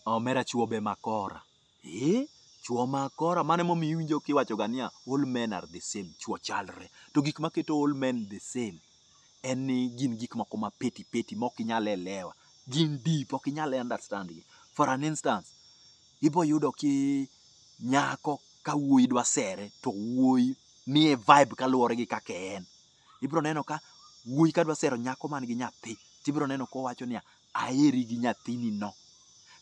Omera chuo be makora. Eh? Chuo makora mane momi iwinjo kiwacho ga niya all men are the same, chuo chalre. To gik maketo all men the same en ni gin gik moko ma peti peti ma ok inyal elewa. Gin deep, ok inyal understand gi. For an instance, ibo yudo ki nyako ka wuoyi dwa sere to wuoyi miye vibe kaluwore gi kaka en. Ibro neno ka wuoyi ka dwa sero nyako man gi nyathi, tibro neno kowacho niya, aheri gi nyathini no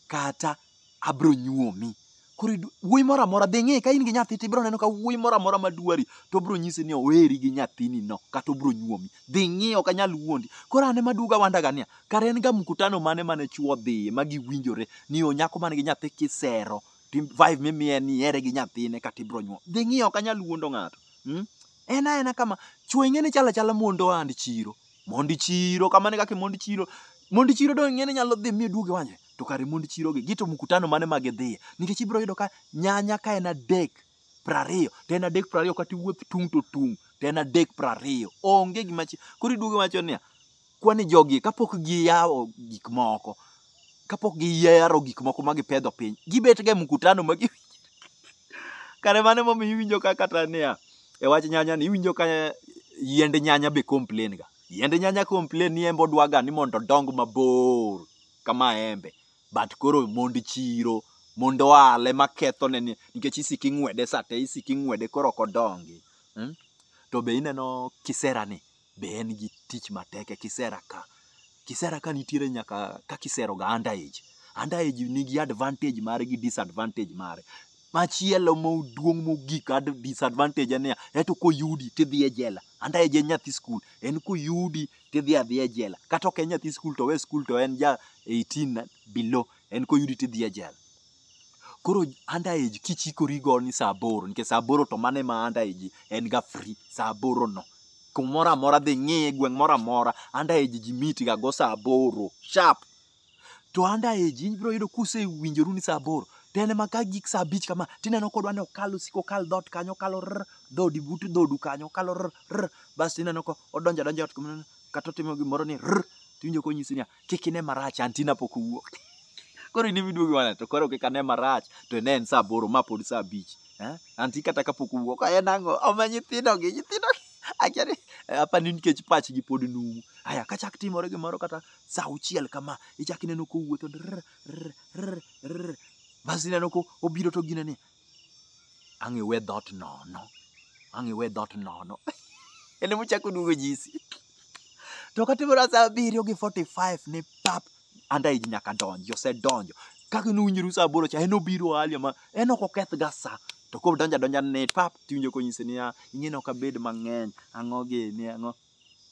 kata abro nyuomi koro idu- wuoyi moro amora dhi ng'e ka in gi nyathi to ibro neno ka wuoyi moro amora madwari to obro nyisi ni oheri gi nyathini no kata obro nyuomi dhi ng'e ok anyal wuondi koro an ema aduoga wandaga niya kare en ga mkutano mane mane chuo dhiye ma giwinjore ni o nyako man gi nyathi kisero to im- vibe mimiye ni ihere gi nyathine kata ibro nyuom dhi ng'e ok anyal wuondo ng'ato mm? en aena kama chwo ing'e ni chalo achala mondo ohand chiro Mond chiro kamane kaka mond chiro. Mond chiro do ng'ene nyalo dhi mi duoge wanye. To kare mond chiro gi gito mkutano mane ma gidhiye. Nikech ibiro yudo ka nyanya ka en adek prariyo to en adek prariyo kata iwuoth tung' to tung' to en adek prariyo. Onge gima chi. Koro iduogo iwacho niya, kwani jogi kapok giyawo gik moko kapok giyaro gik moko ma gipedho piny gibet ga e mkutano ma gi kare mane momiyo iwinjo ka kata niya e wach nyanya ni iwinjo ka yiend nyanya be complain ga yiend nyanya complain ni embe odwaga ni mondo odong mabor kama embe but koro mond chiro mond oale maketho ne ni nikech isiki ng'wede sate isiki ng'wede koro ok odongi hmm? to be ineno kisera ni be en gi tich matek e kisera ka. Kisera ka nitiere nyaka ka kisero ga under age. Under age nigi advantage mare gi disadvantage mare. Machielo moduong' mogik ad disadvantage en niya, eto koyudi tidhi e jela. Under age en nyathi skul, en koyudi tidhi adhiya e jela. Kata ok en nyathi skul to owe skul to en ja 18 and below, en koyudi tidhi e jela. Koro under age kichikori go ni saa aboro nikech saa aboro to mano ema under age en ga free saa aboro no. Kumoro amora dhi ng'iye gweng' moro amora under age ji meet ga go saa aboro sharp. To under age ibiro yudo kusewinjoru ni saa aboro to en ema ka gik saa abich kama tineno kodwa ni okal osiko okal dhoot kanyo okalo rr dhoodi but dhoodu kanyo okalo rr rr bas tineno kodonjo adonja e ot kata otimo gimoro ni rr tiwinjo konyisi niya kik ine marach anti napok owuok koro in imiduogi wana to koro kik ane marach to ine en saa aboro ma pod saa abich eh? anti kata kapok owuok en ang'o oma nyithindogi nyithindogi akia ni eh, apa ni nikech pachgi pod numu aya kachak timore gimoro kata saa auchiel kama ichak ineno kowuotho drr, rr, rr, rr. bas ineno ko obiro to gine ni Ang' iwe dhot nono. Ang' iwe dhot nono. En ema ochako duogo jisi. To katimore saa abiriyo gi 45 ni pap anda iji nyaka donji, osedonjo. Kaka ne unyuru saa aboro cha en obiro alia ma en ok oketh ga saa. To koro donjo adonja ni pap tiwinjo konyisi niya, ing'e ni ok abed mang'eny, ang'o gini, ang'o.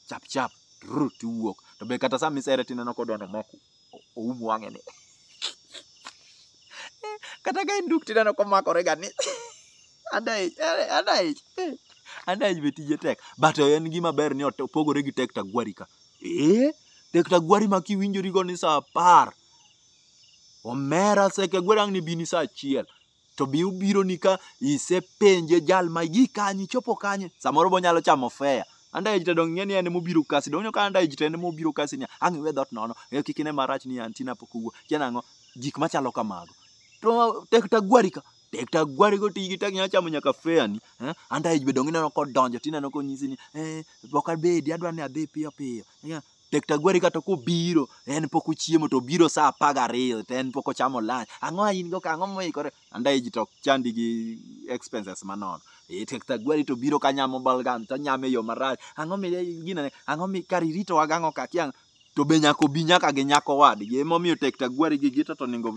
chap chap rrr, tiwuok to be kata sama isere tineno kodwa nomako oum wang'e ni kata ka en duk tineno komakore ga ni adaich eh, adaich eh, adaich be tije tek but en gima ber ni ot- opogore gi tek tagwari ka eh tek tagwari ma kiwinjorigo ni saa apar omera seke gweri ang' ni bini saa achiel to bi ubiro ni ka isepenje jal ma gi kanye ichopo kanye samoro bo nyalo chamo fea andaej to donge ni en mobiro kasi donge ka andaej to en mobiro kasi ni ang' iwe dhot nono e kik ine marach ni antina pok owuo kian ang'o gik machalo kamago to tek tagwari ka tek tagwari go tigi tek nyalo chamo nyaka fea ni eh? andaej be donge ineno kodonjo tineno konyisi ni eh, ok abedi adwa ni adhi piyo piyo Yeah, Tektagwari kata kobiro en pok ochiemo to obiro saa apar gariyo to en pok ochamo lunch. Ang'o ma in go ka ang'o moikore? Andae ji to ok chandi gi expenses manono. Eh, Tektagwari to biro ka nyamo balgam to onyame yo marach. Ang'o mi gino ne? Ang'o mi kar iritowa gang'o ka kia to be nyaka obi nyaka gi nyako wadgi. Emomiyo Tektagwari gi Gita to onego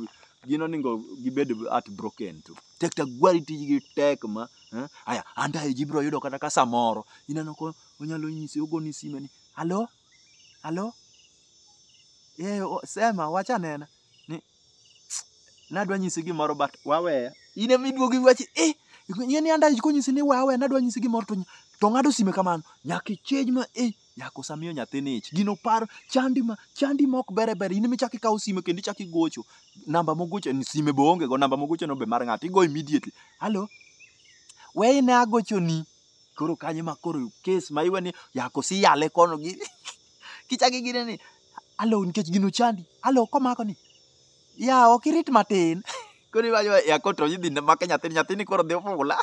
gin onego gibed heartbroken tu. Tektagwari tijgi tek ma eh? Aya, andae ji biro yudo kata ka samoro ineno ko onyalo nyisi ogoni sime ni Halo? Halo? Eh, o- sema wach anena. Ni nadwa nyisi gimoro but waweya. In ema iduogo iwachi eh ing'e ni anda konyisi ni wawe nadwa nyisi gimoro to nya- to ng'ado sime kamano. Nyaka ichej ma eh yako samiyo nyathini ich. Gino paro chandi ma chandi mok bere bere in ema ichako ikawo sime kendo ichako igocho. Namba mogocho ni sime be onge go namba mogocho no be mar ng'ato igo immediately. Halo? We ine agochoni. koro kanye ma koro kes ma iwe ni yako si yale kono gi kichaki gine ni alo nikech gino chandi alo komako ni ya ok irit matin koro iwacho yako to idhi make nyathini nyathini koro dhi ofula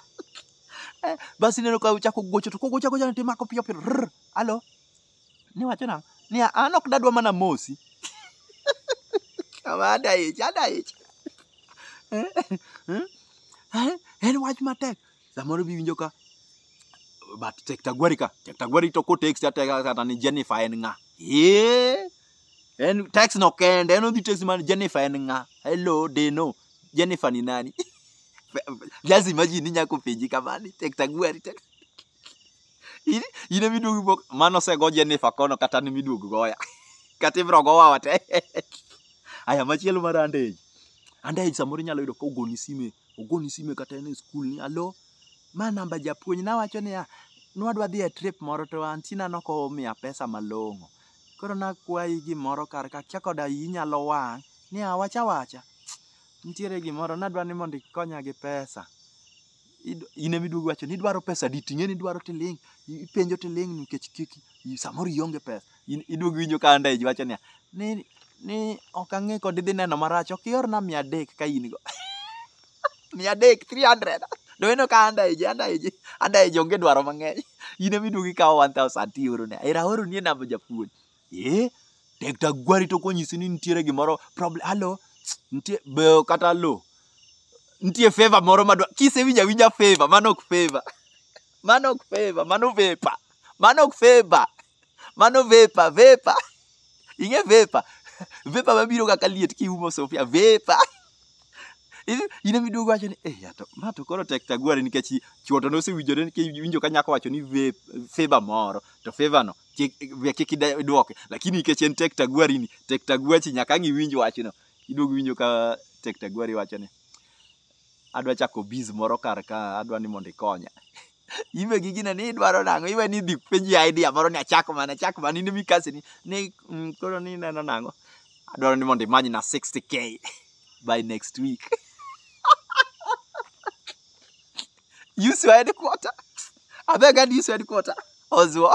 Eh, basi ineno ka ochako gocho to kogocho agocha to imako piyo piyo rr, alo niwacho nang'o ni an ok dadwa mana mosi kama ada ich ada ich Eh, eh, eh, en wach matek Samoro biwinjo ka but Tektagwari ka, Tektagwari to ko text ate kata ni Jennifer en ng'a. Eh. En text no kende, en odhi text man Jennifer en ng'a. Hello, Deno. Jennifer ni nani? Just imagine ni nyako penji kamani, Tektagwari tek. Ine ine miduogo bok mano sego Jennifer kono kata ni miduogo goya. Kata ibro gowa wate. Aya machielo mar andej. Andej samoro inyalo yudo ka ogoni sime ogoni sime kata en e skul ni alo ma namba japuonj nawacho niya nwadwa dhi e trip moro to antina nokomiya pesa malong'o koro nakwayi gimoro kar ka kia koda iyi nyalo wang' ni awach awacha nitiere gimoro nadwa ni mondo ikonya gi pesa Id- in ema iduogo iwacho ni idwaro pesa di ting'e ni idwaro tiling' i- ipenjo tiling' nikech kik i- samoro ionge pesa In- iduog winjo ka anda iwacho niya ni ni ok ang'e kod idhi neno marach ok iorna mia adek ka in go mia adek 300 do eno ka anda ije anda ije anda ije onge dwaro mang'eny in ema iduog ikawo 1000 ti oro ne era oro ni e namba japuonj eh tek ta gwari to konyisi ni nitiere gimoro problem halo nitie be kata lo nitie favor moro madwa kisewinja winja favor mano ok favor mano ok favor mano vepa mano ok favor Mano vepa, vepa. Ing'e vepa? Vepa mabiro kaka liet kiumo sofia, vepa. In- In ema iduogo wacho ni, eh, ya to, ma to koro tek tagwari nikech i- chwo to nosewinjore nikech iwinjo ka nyako wacho ni vape, favor moro, to favor no kik we kik ide- idwoke. Lakini nikech en tek tagwari ni, tek tagwachi nyaka ang' iwinj wachno. Iduogo iwinjo ka tek tagwari wacho ni, adwa chako biz moro kar ka adwa ni mondo ikonya imbe gi gine ni idwaro nang'o iwe ni dhi penji idea moro ni achak mana achak mana in mikasi ni ni mm, koro ni neno nang'o adwaro ni mondo imany na 60k by next week use your headquarter abeg and use your headquarter ozuo